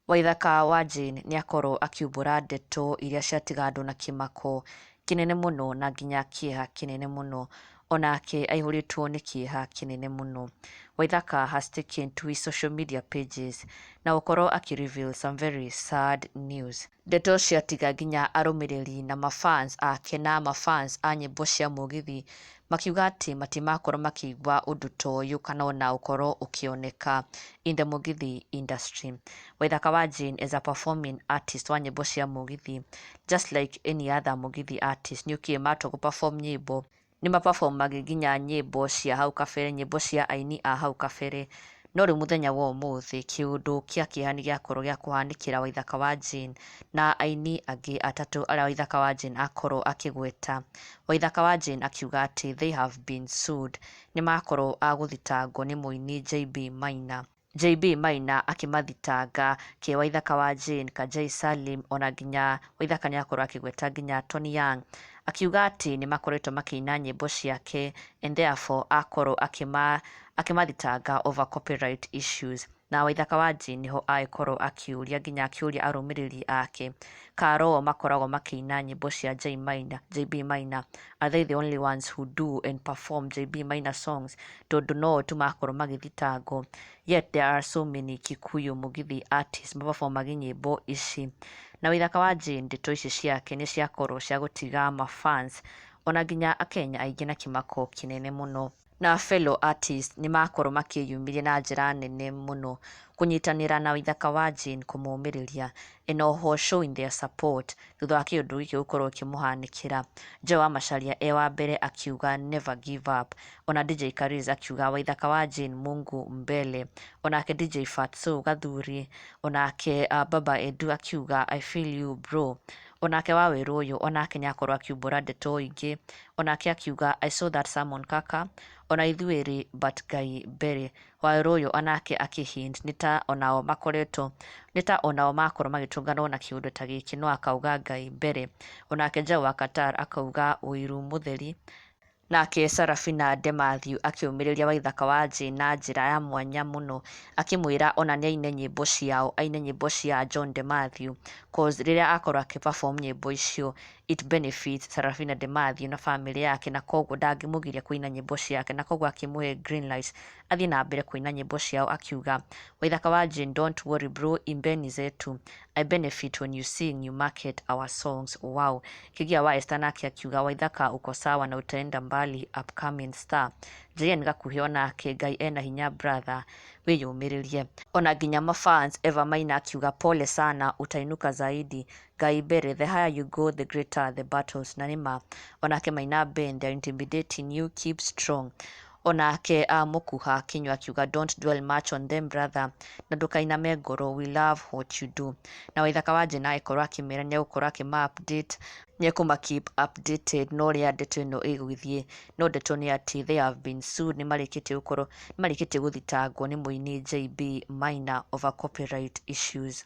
Waithaka wa Jane nĩ akorwo akiumbũra ndeto iria ciatigandwo na kĩmako kĩnene mũno na nginya kĩeha kĩnene mũno. Onake aihũrĩtwo nĩ kĩeha kĩnene mũno. Waithaka has taken to his social media pages na gũkorwo akĩ reveal some very sad news. Ndeto cia Tiga nginya arũmĩrĩri na ma fans ake na ma fans a nyĩmbo cia Mũgithi makiuga atĩ matimakorwo makĩigua ũndũ ta ũyũ kana ona ũkorwo ũkĩoneka in the Mũgithi industry. Waithaka wa Jane as a performing artist wa nyĩmbo cia Mũgithi just like any other Mũgithi artist nĩokire matua gũ perform nyĩmbo nĩ ma perform age nginya nyĩmbo cia hau kabere, nyĩmbo cia aini a hau kabere, no rĩu mũthenya wa ũmũthĩ kĩũndũ kĩa kĩeha nĩ gĩakorwo gĩa kũhanĩkĩra Waithaka wa Jane na aini angĩ atatũ arĩa Waithaka wa Jane akorwo akĩgweta. Waithaka wa Jane akiuga atĩ they have been sued, nĩ makorwo a gũthitangwo nĩ mũini JB Maina. JB Maina akĩmathitanga, Kĩ Waithaka wa Jane, Kajei Salim o na nginya Waithaka nĩ akorwo akĩgweta nginya Tony Young. Akiuga atĩ nĩ makoretwo makĩina nyĩmbo ciake and therefore akorwo akĩma akĩmathitanga over copyright issues. Na Waithaka wa Jane nĩho agĩkorwo akĩũria nginya akĩũria arũmĩrĩri ake ka roo makoragwo makĩina nyĩmbo cia Jay Maina, JB Maina. Are they the only ones who do and perform JB Maina songs? Tondũ no o tu makorwo magĩthitangwo. Yet there are so many Kikuyu Mugithi artists maperformage nyĩmbo ici. Na wĩ thaka wa Jane, ndeto ici ciake nĩ ciakorwo cia gũtiga ma fans ona nginya Akenya aingĩ na kĩmako kĩnene mũno. na fellow artists nĩ makorwo makĩyumĩria na njĩra nene mũno kũnyitanĩra na ithaka wa Jane kũmũmĩrĩria and o ho showing their support thutha wa kĩũndũ gĩkĩ gũkorwo kĩmũhanĩkĩra. Joe wa Macharia e wa mbere akiuga never give up, ona DJ Kariz akiuga waithaka wa Jane Mungu mbele, onake DJ Fatso Gathuri, onake uh, Baba Edu akiuga I feel you bro, onake wa Wĩrũyũ onake nĩ akorwo akiumbũra ndeto ingĩ, O nake akiuga, I saw that sermon kaka, o na ithuĩ rĩ, but Ngai Berĩ. Wawerũ ũyũ o nake akĩ hint, nĩ ta o nao makoretwo, nĩ ta o nao makorwo magĩtũnganwo na kĩũndũ ta gĩkĩ, no akauga Ngai Berĩ. O nake Njaũ wa Qatar akauga ũiru mũtheri. Nake Sarafina de Matthew akĩũmĩrĩria Waithaka wa Njĩ na njĩra ya mwanya mũno, akĩmwĩra o na nĩ aine nyĩmbo ciao, aine nyĩmbo cia John de Matthew, coz rĩrĩa akorwo akĩ perform nyĩmbo icio, it benefits Sarafina de Mathew na famĩlĩ yake na kwoguo ndangĩmũgiria kũina nyĩmbo ciake na kwoguo akĩmũhe green light athiĩ na mbere kũina nyĩmbo ciao akiuga Waithaka wa Jane don't worry bro imbeni zetu I benefit when you sing you market our songs wow Kĩgia wa Esther nake akiuga Waithaka uko sawa na utaenda mbali upcoming star JN Gakuhĩ onake Ngai ena hinya brother wĩyũmĩrĩrie ona nginya mafans Eva Maina akiuga pole sana utainuka zaidi Ngai mbere, the higher you go the greater are the battles, na nĩ ma. Onake Maina Ben, they are intimidating you, keep strong. Onake uh, Mũkuha Akinywa akiuga don't dwell much on them brother, na ndũkainame ngoro, we love what you do. Na Waithaka wa Njĩna agĩkorwo akĩmera nĩ egũkorwo akĩma update nĩekũma keep updated no rĩa ndeto ĩno ĩgũthiĩ no ndeto nĩ atĩ they have been sued nĩ marĩkĩtie gũkorwo nĩ marĩkĩtie gũthitangwo nĩ mũini JB Maina over copyright issues